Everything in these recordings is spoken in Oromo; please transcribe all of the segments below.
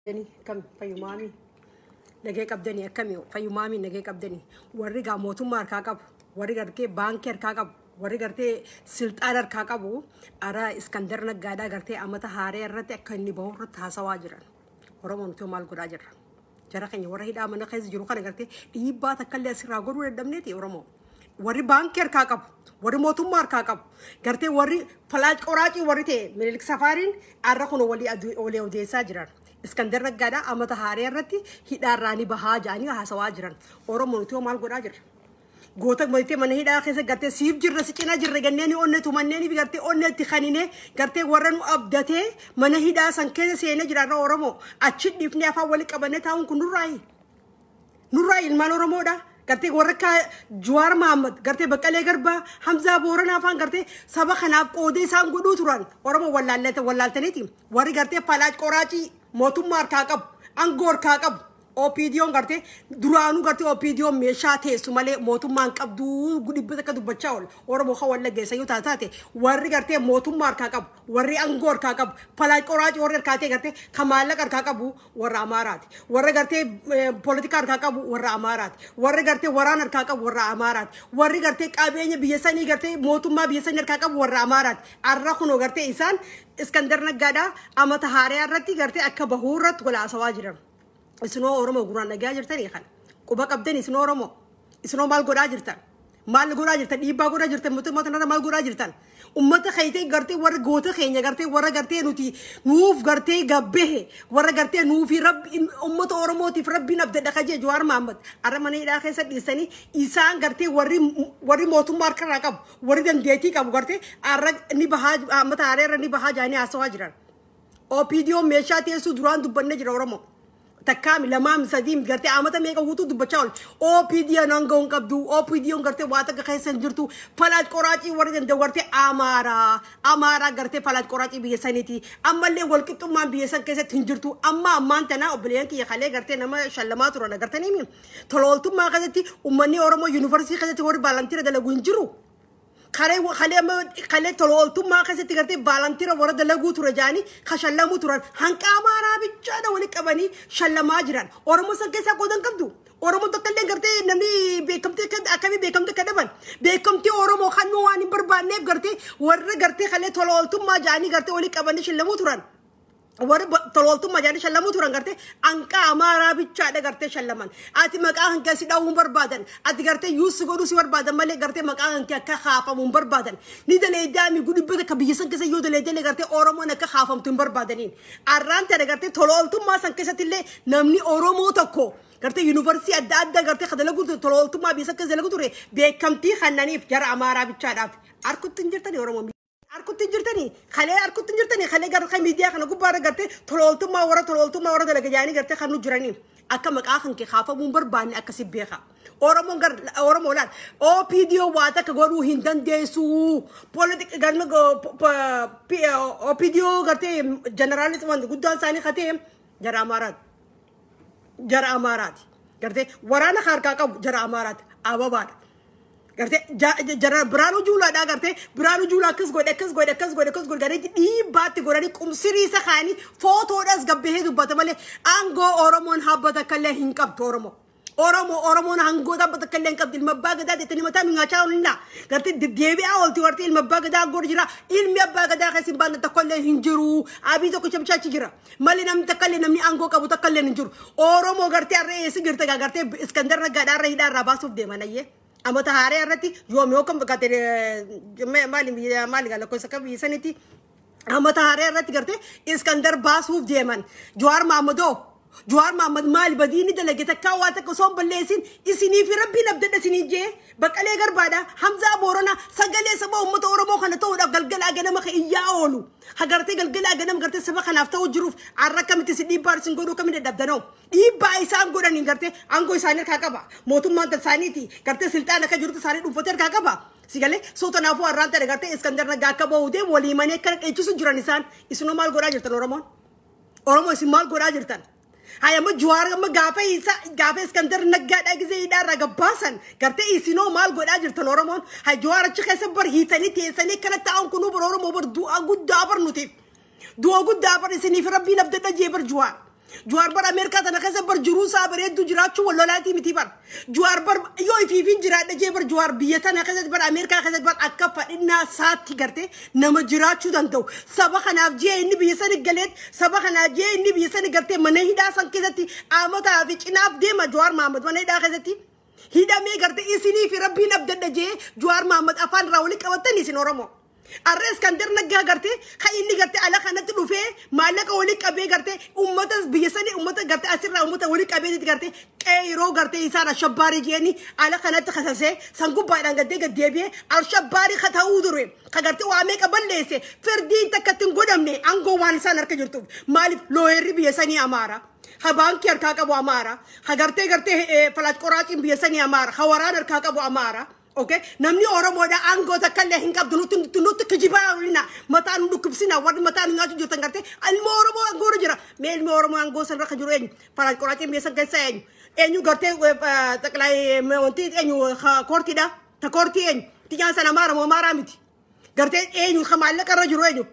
Dani kam fayyumaami nagee qabdanii akkami fayyumaami nagee qabdanii warri gaa mootummaa harkaa qabu warri gartee baankii harkaa qabu warri gartee silxaan harkaa qabu ara iskandar naggaadhaa gartee amata haaree irratti akka inni bahu irratti haasawaa jiran oromoon itoo maal godhaa jirra jara keenya warra hidhaa mana keessa jiru kana gartee dhiibbaa takka illee asirraa godhuu dadhabneeti oromoo. warri baankii harkaa qabu warri mootummaa harkaa qabu gartee warri falaac qoraacii warri ta'e minilik safaariin har'a kun walii adu- walii odeessaa jiran iskandar naggaadhaa amata haaree irratti hidhaarraa ni bahaa jedhanii haasawaa jiran oromoo nuti hoo maal godhaa jirra goota mootee mana hidhaa keessa gartee siif jirra si cina jirra ganneen onne tumanneen fi gartee onne itti kanine gartee warra nu abdatee mana hidhaa san keessa seenee jiraarra oromoo achi dhiifnee afaan walitti qabannee taa'uun kun nurraayi Nurraa ilmaan Oromoodha. Gartee warra akka Juwaar Mahammad, gartee Baqqalee Garbaa, Hamzaa Booranaa faan gartee saba kanaaf qoodee isaan godhuu turan. Oromoo wallaallee- wallaaltaniiti. Warri gartee falaac qoraacii mootummaa harkaa qabu, aangoo harkaa qabu. OPDOn gartee duraanuu gartee OPDOn meeshaa teessu malee mootummaan qabduu dhibba takka dubbachaa oola. Oromoo kan wallagge isa yoo taate warri gartee mootummaa harkaa qabu, warri aangoo harkaa qabu, falaac qoraacii warri harkaa ta'e gartee kan maallaqa harkaa qabu warra Amaaraati. Warra gartee eh, poolitikaa harkaa qabu warra Amaaraati. Warri gartee waraana harkaa qabu warra Amaaraati. Warri gartee qabeenya biyya sanii gartee mootummaa biyya sanii harkaa qabu warra Amaaraati. Arra kunoo gartee isaan Iskandar Naggaadhaa amata haaraa irratti gartee akka bahuu irratti wal haasawaa jiran. Isinoo Oromoo guraan dhagaa jirtanii kana. Quba qabdan isinoo Oromoo. Isinoo maal godhaa jirtan? Maal godhaa jirtan? Dhiibbaa godhaa jirtan mootummaa kanarra maal godhaa jirtan? Uummata keetee gartee warra goota keenya gartee warra gartee nuti nuuf gartee gabbehe warra gartee nuufi rabbi uummata Oromootiif rabbiin abdadha kajee Jawaar Mahaammad arra mana hidhaa keessa dhiisanii isaan gartee warri warri mootummaa harkarraa qabu warri dandeettii qabu gartee arra ni bahaa uummata haareerra ni bahaa jaanii haasawaa jiran. OPDO meeshaa teessuu duraan dubbanne jira Oromoo. takkaami lamaami sadiim gartee amata meeqa guutuu dubbachaa ol OPDOn hanga hin qabdu OPDOn gartee waa takka keessa hin jirtu palaat qoraacii warri danda'u gartee amaaraa amaaraa gartee palaat qoraacii biyya saniiti ammallee wal qixxummaan biyya san keessatti hin jirtu amma ammaan tanaa obboleeyyan kiyya kalee gartee nama shallamaa turan agartaniimi tolooltummaa keessatti ummanni Oromoo yuunivarsiitii keessatti warri baalantiira dalagu hin jiru Kalee kalee amma kalee tola ooltummaa keessatti gartee vaalantira warra dalaguu ture jaanii kan shallamuu turan hanqa amaaraa bichaadha wali qabanii shallamaa jiran. Oromoo san keessaa qoodan qabdu. Oromoo tokko illee gartee namni beekamtii akka akkamii beekamtii akka dhaban beekamtii Oromoo kan nu waan hin barbaanneef gartee warra gartee kalee tola ooltummaa jaanii gartee wali qabanii shallamuu turan. warri tolooltummaa jedhanii shallamuu turan gartee hanqaa amaaraa bichaadha gartee shallaman ati maqaa hanqee si dha'uun barbaadan ati gartee yuusi godhuu si barbaadan malee gartee maqaa hanqee akka haafamuun barbaadan ni daleedaami gudibbata akka biyya san keessa yoo daleedale gartee oromoon akka haafamtu hin barbaadaniin arraan tana gartee tolooltummaa san keessatti illee namni oromoo tokko gartee yuunivarsiitii adda addaa gartee kan dalaguu ture tolooltummaa biyya san keessa dalaguu ture beekamtii kannaniif jara amaaraa bichaadhaaf harkutti hin jirtani oromoo Harkutti hin jirtanii kalee harkutti hin jirtanii kalee garuu kan miidiyaa kana gubbaa irra gartee tolooltummaa warra tolooltummaa warra dalaga jaanii gartee kan nu jiranii akka maqaa kan kee kaafamuu hin barbaanne akkasi beeka. Oromoon gar Oromoo laal OPDO waa takka godhuu hin dandeessu. Politik galma OPDO gartee jeneraalis wanti guddaan isaanii katee jara Amaaraati. jara amaaraati gartee waraana harkaa qabu jara amaaraati ababaadha gartee ja- ja- jara biraanuu juulaadha gartee biraanuu juula akkas godhe akkas godhe akkas godhe akkas godhe garee dhiibbaatti godhanii qumsirii isa kaanii footoodhas gabbahee dubbata malee aangoo oromoon habbata akkallee hin qabdu oromoo. Oromoo Oromoon aangoo dhaabbata akka illee hin qabdu ilma abbaa gadaa jettanii mataa nu nyaachaa oolina gartee deddeebi'aa oolti warti ilma abbaa gadaa aangoo jira ilmi abbaa gadaa keessa hin baanne tokko illee hin jiru abii tokkicha bichaachi jira. Mali namni takka illee namni aangoo qabu takka illee hin jiru. Oromoo gartee har'a eessa jirta gaa gartee Iskandar Naggaadhaa irra hidhaa irraa baasuuf deeman ayyee. Amata haaree irratti yoomi yoo kan fakkaate maali maali gaa lakkoofsa akka biyya sanitti amata haaree irratti gartee Iskandar baasuuf deeman. Jawaar Maammadoo Jawaar Maammad maali badii inni dalage takkaa waa takka osoo hin balleessin isinii fi rabbiin abdadha isinii jee baqqalee garbaadha Hamzaa Booranaa sagalee saba uummata Oromoo kana ta'uudhaaf galgalaa ganama kan iyyaa oolu. Hagartee galgalaa ganam gartee saba kanaaf ta'uu jiruuf har'a akkamitti si dhiibbaa isin godhuu kami dadhabdanoo dhiibbaa isaan godhaniin gartee aangoo isaanii harkaa qaba mootummaan isaaniiti gartee silxaan akka jirutti isaanii dhuunfatee harkaa qaba si galee soo tanaafuu har'aan ta'e gartee iskandar nagaa akka ba'uu deemu walii manee akkana dheechisu jiran isaan isinoo maal godhaa jirtan oromoon oromoo isin maal godhaa jirtan Haya amma Juwaar amma gaafa isa gaafa Iskandar Naggaadhaa gisee hidhaarraa gabbaasan gartee isinoo maal godhaa jirtan Oromoon hay Juwaar achi keessa bar hiitanii teessanii akkana taa'uun kunuu bar Oromoo bar du'aa guddaa bar nutiif du'aa guddaa bar isiniif rabbiin abdadha jee bar Juwaar Juwaar bar Ameerikaa tana keessa bar jiruu isaa bareedduu jiraachuu wal lolaatii miti bar Juwaar bar yoo ifiifiin jiraadha jee bar Juwaar biyya tana keessatti bar Ameerikaa keessatti bar akka fadhinnaa saatti gartee nama jiraachuu danda'u. Saba kanaaf jee inni biyya sani galeet saba kanaaf jee inni biyya sani gartee mana hidhaa san keessatti aamotaa fi cinaaf deema Juwaar Mahammad mana hidhaa keessatti. Hidhamee gartee isinii fi rabbiin abdadha jee Juwaar Mahammad afaan irraa walitti qabattan isin Oromoo. Arra Iskandar Naggaa garte kan inni garte ala kanatti dhufee maallaqa wali qabee garte uummata biyya sanii uummata garte asirraa uummata wali qabee itti garte qeeroo garte isaan ashabbaarii jeeni ala kanatti kasasee san gubbaadhaan gaddee gad deebi'ee ashabbaarii ka ta'uu dure ka garte waa meeqa balleesse firdiin takka ittiin godhamne aangoo waan isaan harka jirtuuf maaliif looyerri biyya sanii amaara. ha baankii harkaa qabu amaara ha gartee gartee falaat qoraaciin biyya sanii amaara ha waraana harkaa qabu amaara. Okay? Namni Oromoodha aangoo takka illee hin qabdu nutti nutti nutti kijibaa olina mataa nu dhukkubsina warri mataa nu nyaachuu jirtan gartee ilmoo Oromoo aangoo irra jira mee ilmoo Oromoo aangoo san irra kan jiru eenyu faraan qoraatiin biyya san keessa eenyu eenyu gartee xaqilaayi wanti eenyu koortiidha ta koortii eenyu tiyyaan sana maara moo maaraa miti gartee eenyu ka maallaqa irra jiru eenyu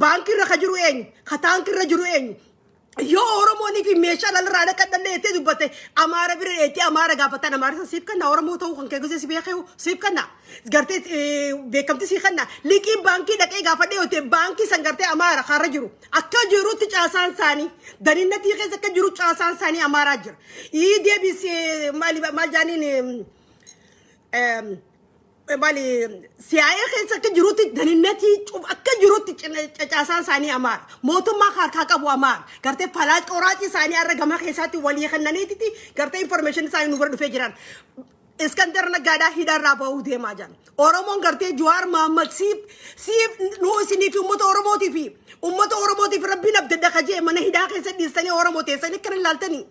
baankii irra ka jiru eenyu ka taankii irra jiru eenyu Yoo Oromoonii fi meeshaa dhalirraa dhaqadhallee jettee dubbatte Amaara bira dheettee Amaara gaafatan Amaarisa siif kenna Oromoo ta'uu kan kee gosee si beekee siif kenna gartee eh, beekamtii siif kenna liqii baankii dhaqee gaafadhee yoo ta'e baankii san gartee Amaara kaarra jiru akka jirutti caasaan isaanii daniinnatii keessa akka jiru caasaan isaanii Amaaraa jira. Ii deebisee maal maal jaaniin eh, em, mali siyaa'ee keessa akka jirutti daninnatii cuf akka jirutti cina- cacaasaan isaanii amaara mootummaa harkaa qabu amaara gartee falaa coraacii isaanii har'a gama keessaatti walii kennaniititi gartee information isaanii nu bira dhufee jiran iskandar naggaadhaa hidhaarraa ba'uu deemaa jiran oromoon gartee juwaar maammad siif siif nu isiniif uummata oromootiif uummata oromootiif rabbiin abdadda kajee mana hidhaa keessa dhiistanii oromoo teessanii akkana ilaaltanii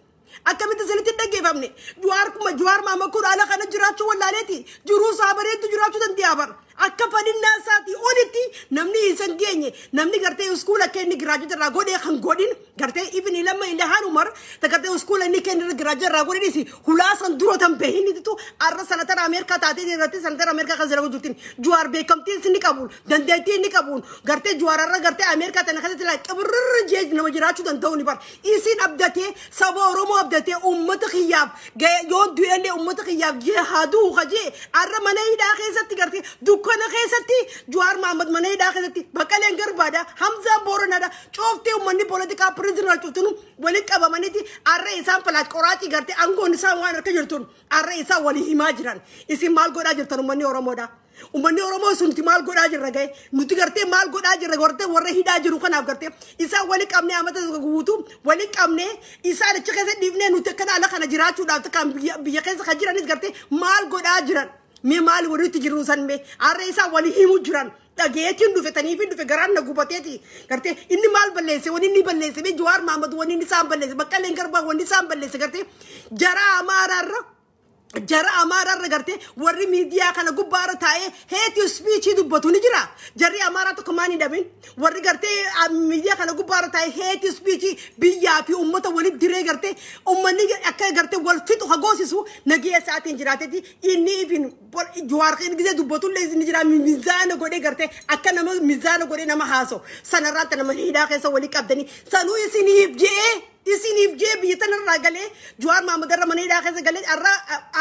Akkamitti isinitti hin dhaggeeffamne? Juwaar kuma Juwaar maama kun ala kana jiraachuu wallaaleeti. Jiruu isaa bareedu jiraachuu danda'a bar. Akka fadhinnaa isaatii olitti namni isan geenye namni gartee iskuula akka inni giraajota irraa godhee kan godhin gartee ibn ilamma ilahaan umar ta gartee iskuula inni kenna irra giraajota irraa godhinis hulaa san dura tan beehin ittitu arra sanatara Ameerikaa taatee irratti sanatara Ameerikaa kan zalagu jirtin Juwaar beekamtii isin ni qabuun dandeettii inni qabuun gartee Juwaar irra gartee Ameerikaa tana keessatti laa qibirrirra jee nama jiraachuu danda'u ni bar. Isin abdatee, saba Oromoo abdatee, uummata kiyyaaf ga'e yoon du'ellee uummata kiyyaaf jee haa du'u ka jee arra mana hidhaa keessatti gartee dukkana keessatti Juwaar Mahammad mana hidhaa keessatti Baqqaleen Garbaadha, Hamzaan Booranadha, cufti uummanni poolitikaa pirizinara cuftinu walitti qabamaniiti arra isaan falaat qoraacii gartee aangoon isaan waan harka jirtuun arra isaan walii himaa jiran. Isin maal godhaa jirtan uummanni Oromoodha? Uummanni Oromoo sunti maal godhaa jirra ga'e nuti gartee maal godhaa jirra gartee warra hidhaa jiru kanaaf gartee isaan wali qabnee amata tokko guutuu wali qabnee isaan achi keessa dhiifnee nuti akkana ala kana jiraachuudhaaf kan biyya biyya keessa kan jiranis gartee maal godhaa jiran mee maal walitti jiru san mee harree isaan wali himu jiran dhageetiin dhufe taniifi dhufe garaan na gubateeti gartee inni maal balleesse wani inni balleesse mee Jawaar Maamad wani inni isaan balleesse Baqqaleen Garbaa wani isaan balleesse gartee jaraa Amaaraarra jara amaaraa irra gartee warri miidiyaa kana gubbaa irra taa'ee heetii spiichii dubbatu ni jira. Jarri amaaraa tokko maan hin dhabin warri gartee ah, miidiyaa kana gubbaa irra taa'ee heetii spiichii biyyaa fi uummata walitti diree gartee uummanni akka gartee wal fixu hagoosisu nagee isaatiin jiraatetti inni ifin jawaarqeen gisee dubbatu illee ni jira mizaana godhee gartee akka nama mizaana godhee nama haasoo sanarraatti nama hidhaa keessa walii qabdanii sanuu isiniif je'ee. Isiniif jee biyya tana irraa galee Jawaar Maamad irra mana hidhaa keessa galee arra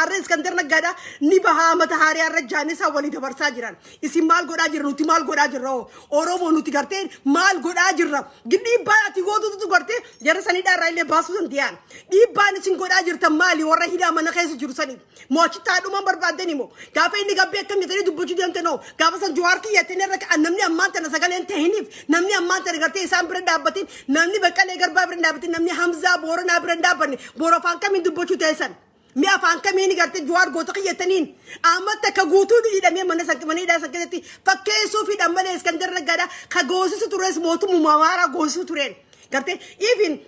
arra Iskandar Naggaadha ni bahaa mata haarii arra jaanisaa walii dabarsaa jiran. Isin maal godhaa jirra nuti maal godhaa jirra hoo Oromoo nuti gartee maal godhaa jirra dhiibbaan ati gootutu gartee jarra san hidhaa irraa illee baasuu danda'an. Dhiibbaan isin godhaa jirtan maali warra hidhaa mana keessa jiru saniif. Mo'achittaa dhumaan barbaaddeen immoo gaafa inni gabbee akkam jettanii dubbachuu deemte noo gaafa san Jawaar kiyya jettanii irra ka'an namni ammaan tana sagaleen tahiniif namni ammaan tana gartee isaan bira dhaabbatiin namni baqqalee garbaa bira dhaabbatiin namni Hamzaa Booranaa bira dhaabbanne boora afaan kamiin dubbachuu teessan. Mi afaan kamiin gartee Jawaar goota kiyya jettaniin amma takka guutuu hidhamee mana san mana hidhaa san keessatti fakkeessuu fi dhammalee Iskandar Naggaadhaa ka goosisu tures mootummaa waaraa goosisu tureen gartee even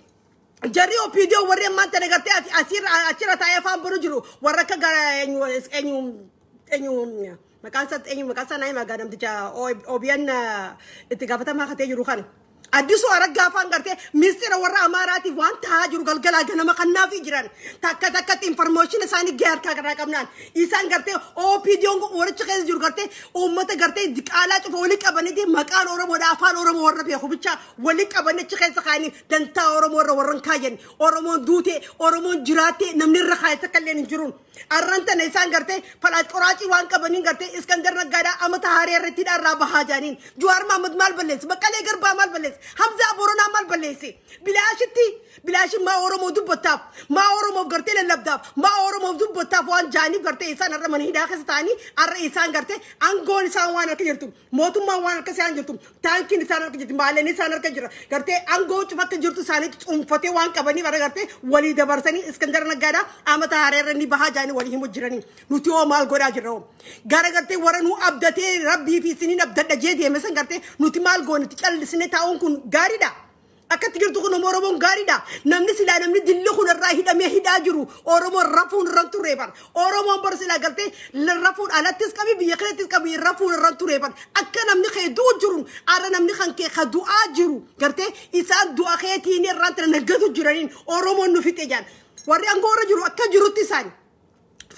Jarri OPDO warri ammaan tana gartee ati asirra achirra taa'ee afaan bulu jiru warra akka gara eenyu eenyu eenyu maqaan isaa eenyu maqaan isaa naayima gaa namticha OBN itti gaafatamaa katee jiru kana. Addisuu araggaa afaan gartee miistira warra Amaaraatiif waan taa'aa jiru galgalaa ganama kannaafii jiran takka takkatti infarmooshin isaanii gahee harkaa irraa qabnaan isaan gartee OPDOn waricha keessa jiru gartee uummata gartee diqaalaa cufa waliin qabaniiti maqaan Oromoodha afaan Oromoo warra beeku bichaa Wali qaban achi keessa kaa'anii dantaa Oromoo irra warran kaayan. Oromoon duute, Oromoon jiraatte namni irra kaa'e takka illee hin jiruun. Arran tana isaan gartee falaas qoraacii waan qabaniin gartee Iskandar Naggaadhaa amata haaree irratti irraa bahaa jaaniin. Juwaar Mahammad maal balleesse? Baqqalee Garbaa maal balleesse? Hamzaa Boronaa maal balleesse? Bilaashitti bilaashin maa Oromoo dubbattaaf? Maa Oromoof gartee lallabdaaf? Maa Oromoof dubbattaaf waan jaaniif gartee isaan arra mana hidhaa keessa ta'anii arra isaan gartee aangoon isaan waan akka jirtu. Mootummaan waan harka isaa hin jirtu taankiin isaan harka jirti maaleen isaan harka jira gartee aangoo cufa akka jirtu isaaniitti cuunfatee waan qabanii bara gartee walii dabarsanii iskandara naggaadhaa amata haaraa irra ni bahaa jaanii walii himu jiranii nuti hoo maal godhaa jirra hoo gara gartee warra nu abdatee rabbii fi isiniin abdadha jee deeme san gartee nuti maal goone itti callisnee taa'uun kun gaariidha. Akkatti jirtu kun Oromoon gaariidha. Namni silaa namni dilli kun irraa hidhamee hidhaa jiru Oromoon rafuun irra turee bar. Oromoon bar silaa galtee rafuun alattis qabi biyya keessattis qabi rafuun irra turee bar. Akka namni kee du'u jiru arra namni kan kee ka du'aa jiru gartee isaan du'a keetiin irraa tana naggatu jiraniin Oromoon nu fixe jaan. Warri aangoo irra jiru akka jirutti isaani.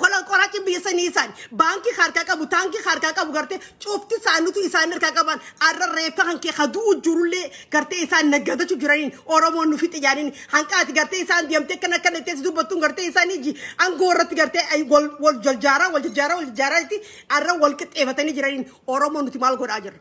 Fola qoraci biyya sanii isaan baankii harkaa qabu taankii harkaa qabu gartee cufti isaanutu isaan harkaa qaban arra reeffa kan kee kaduu jirullee gartee isaan naggadachu jiraniin oromoon nufi xiyyaaniin hanqaati gartee isaan deemtee kan akka nettees dubbattuun gartee isaan iji angoo irratti gartee ay wal wal jaljaaraa wal jaljaaraa wal jaljaaraa itti arra wal qixxeefatanii jiraniin oromoon nuti maal godhaa jirra.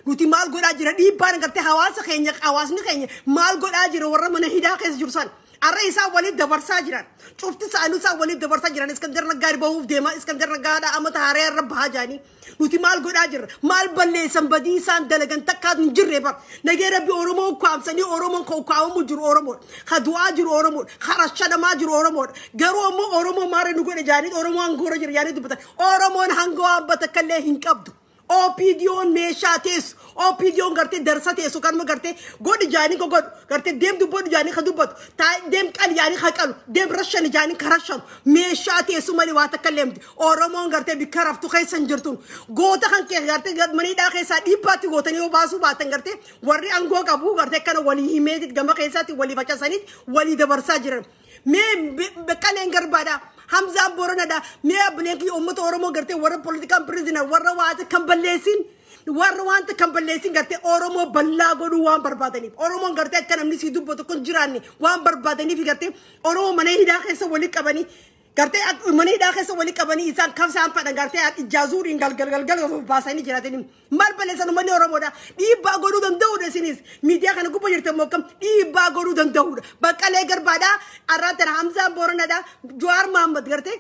Nuti maal godhaa jira dhiibbaan agartee hawaasa keenya hawaasni keenya maal godhaa jira warra mana hidhaa keessa jiru san. Arra isaa waliin dabarsaa jiran. Cufti isaanii isaa waliin dabarsaa jiran. Iskandar Naggaa bahuuf deema. Iskandar Naggaadha amata haaree irra bahaa jaanii. Nuti maal godhaa jirra? Maal balleessan badii isaan dalagan takkaa hin jirre bar. Nagee rabbi Oromoo ukkaamsanii Oromoon kan ukkaamamu jiru Oromoodha. Ka du'aa jiru Oromoodha. Ka rashadamaa jiru Oromoodha. Garuu ammoo Oromoo maara nu godhe jaanii Oromoo hangoora jira jaanii dubbatan. Oromoon hangoo abba takka illee hin qabdu. OPDOn meeshaa teessu OPDOn gartee darsa teessu kanuma gartee godhi jaanii ka godhu gartee deem dubbadhu jaanii ka dubbatu taa deem qali jaanii ka qalu deem rashani jaanii ka rashanu meeshaa teessu malee waa takka illee miti Oromoon gartee bikka raftu keessa hin jirtun goota kan kee gartee gad maniidhaa keessaa dhiibbaatti gootanii yoo baasuu baatan gartee warri angoo qabu gartee kana walii himeetit gama keessaatti walii facasaniit walii dabarsaa jiran Mee be- Beqqaleen Garbaadha. Hamzaan Booranadha. Mee abbileen kiyya uummata Oromoo gartee warra politikaan pirizinar warra waata kan balleessin warra wanta kan balleessin gartee Oromoo bal'aa godhuu waan barbaadaniif. Oromoon gartee akka namni sii dubbatu kun jiraanne waan barbaadaniif gartee Oromoo mana hidhaa keessa walitti qabanii gartee ak- mana hidhaa keessa walitti qabanii isaan kan isaan fedhan gartee ijaazuuriin galgal galgal of baasanii jiraatanii. Maal balleessan uummanni Oromoodha. Dhiibbaa godhuu danda'uudha isinis. Miidiyaa kana gubba jirtan moo akkam dhiibbaa godhuu danda'uudha. Baqqalee garbaadha. Arraa tana Hamzaan Booranadha. Jawaar Mahammad gartee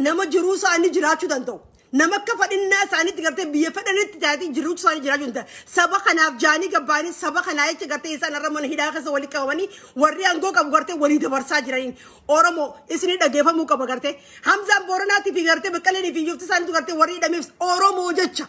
nama jiruu isaanii jiraachuu danda'u. Nama akka fadhinnaa isaaniitti gartee biyya fedhanitti taatee jiruu isaanii jiraachuu hin danda'u. Saba kanaaf jaanii gabbaanii saba kanaa jecha gartee isaan irra mana hidhaa keessa walii qabamanii warri aangoo qabu gartee walii dabarsaa jiraniin. Oromo isini dhageefamuu qaba gartee. Hamzaan Booranaatii fi gartee Baqqaleenii fi Yofti isaaniitu gartee warri hidhameef Oromoo jecha.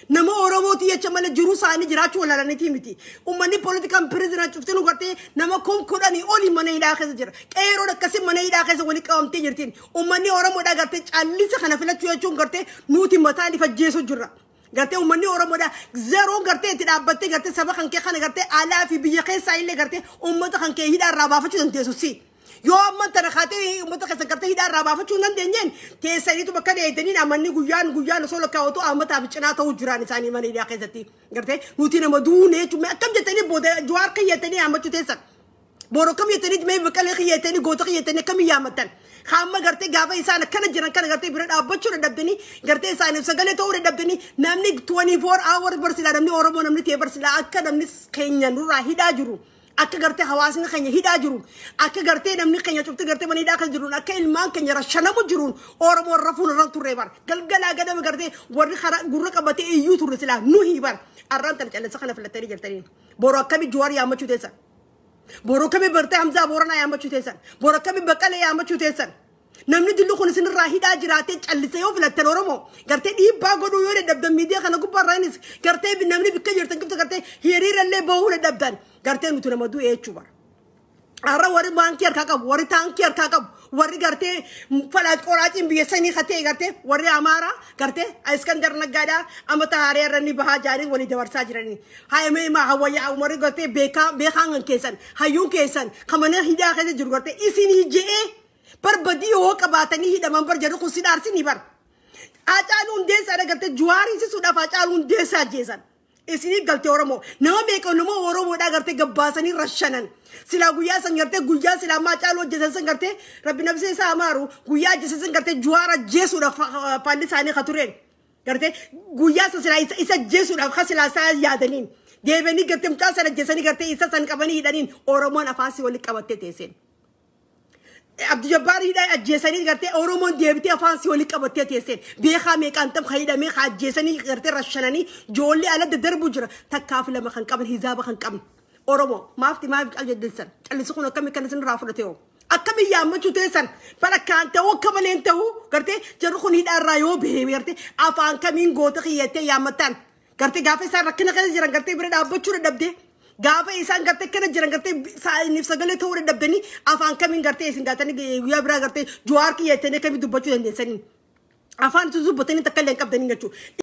Nama Oromooti jecha malee jiruu isaanii jiraachuu walaalaniitii miti. Uummanni poolitikaan pirizinaa cuftinu gartee nama kum kudhanii olii mana hidhaa keessa jira. Qeeroon akkasii mana hidhaa keessa waliin qabamtee jirtiin. Uummanni Oromoodhaa gartee callisa kana filachuu jechuun gartee nuti mataan ifa jeesuu jirra. Gartee uummanni Oromoodha. Zeroon gartee itti dhaabbattee gartee saba kan kee kana gartee alaa fi biyya keessaa illee gartee uummata kan kee hidhaa irraa baafachuu dandeessu si. Yoo amma tana kaatee uummata keessan gartee hidhaa irraa baafachuu hin dandeenyeen teessaniitu bakka dheedaniin amanni guyyaan guyyaan osoo lakkaa'otu uummataa fi cinaa ta'uu jiraan isaanii mana hidhaa keessatti. Gartee nuti nama duunee jechuun akkam jettanii booda jawaar kan jettanii hammachuu teessan. Boor akkam jettaniit mee baqalee kiyya jettanii goota kiyya jettanii akkam yaamatan. Hamma gartee gaafa isaan akkana jiran kana gartee bira dhaabbachuu dadhabdanii gartee isaaniif sagalee ta'uu dadhabdanii namni 24 hour barsiisaa namni Oromoo namni ta'ee barsiisaa akka namni keenya nurraa hidhaa jiru. Akka gartee hawaasni keenya hidhaa jiru. Akka gartee namni keenya cufti gartee mana hidhaa kan jiruun akka ilmaan keenya rashanamu jiruun Oromoo rafuun irra turre bar. Galgalaa ganama gartee warri karaa gurra qabatee iyyuu turre silaa nuhi bar. Arraan tan callisa kana filattanii jirtanii. Boru akkami Juwaar yaammachuu teessan? Boru akkami bartee Hamzaa Booranaa yaammachuu teessan? Boru akkami Baqqalee yaammachuu teessan? Namni dilli kun isinirraa hidhaa jiraatee callise yoo filattan Oromoo gartee dhiibbaa godhuu yoo dadhabdan miidiyaa kana gubbaarraa innis gartee namni bikka jirtan cufta gartee hiriirallee bahuu dadhabdan gartee nuti nama du'e jechuu bara. Har'a warri baankii harkaa qabu, warri taankii harkaa qabu, warri gartee falaat qoraatiin biyya sanii ka ta'e gartee warri Amaaraa gartee Iskandar Naggaadhaa amma tahaaree irra ni bahaa jaanii walii dabarsaa jiranii. Haayamee himaa hawwayyaa umarri gartee beekaa beekaan kan keessan hayyuun keessan kan mana hidhaa keessa jiru gartee isinii je'ee barbadii yoo qabaatanii hidhaman bar jedhu kun si dhaarsinii bar. Haacaaluu hundeessaa dhagartee juwaarii sisuudhaaf haacaaluu hundeessaa jeesan. Isinii galtee Oromoo. Nama meeqa nama Oromoodhaa gartee gabbaasanii rashanan. Silaa guyyaa san gartee guyyaa silaa maa caaluu ajjeesan san gartee rabbi nabsee isaa amaaru guyyaa ajjeesan san gartee juwaara ajjeesuudhaaf faalli isaanii ka tureen. Gartee guyyaa san silaa isa ajjeesuudhaaf ka silaa isaa yaadaniin. Deebanii gartee mucaa san ajjeesanii gartee isa san qabanii hidhaniin Oromoon afaasii walitti qabattee teesseen. Abdu Jabbaar hidhaa ajjeesanii gartee Oromoon deebitee afaan si waliin qabattee teesseen beekaa meeqaan tam kan hidhamee kan ajjeesanii gartee rashananii joollee ala daddarbu jira takkaa fi lama kan qaban hizaaba kan qabne Oromoo maafti maaf calladdeessan callisii kun akkamii kan isin irraa fudhate hoo akkamii yaammachuu teessan falakkaan ta'uu akka maleen ta'uu gartee jarri kun hidhaa irraa yoo bahee gartee afaan kamiin goota kiyyattee yaammattaan Gartee gaafa isaan rakkina keessa jiran gartee bira dhaabbachuu dadhabde. Gaafa isaan gartee kana jiran gartee saayiniif sagalee ta'uu dadhabdanii afaan kamiin gartee isin gaatanii guyyaa biraa gartee juwaar kiyya jettanii kamiin dubbachuu dandeessanii. Afaan isin dubbatanii takka illee hin qabdanii jechuudha.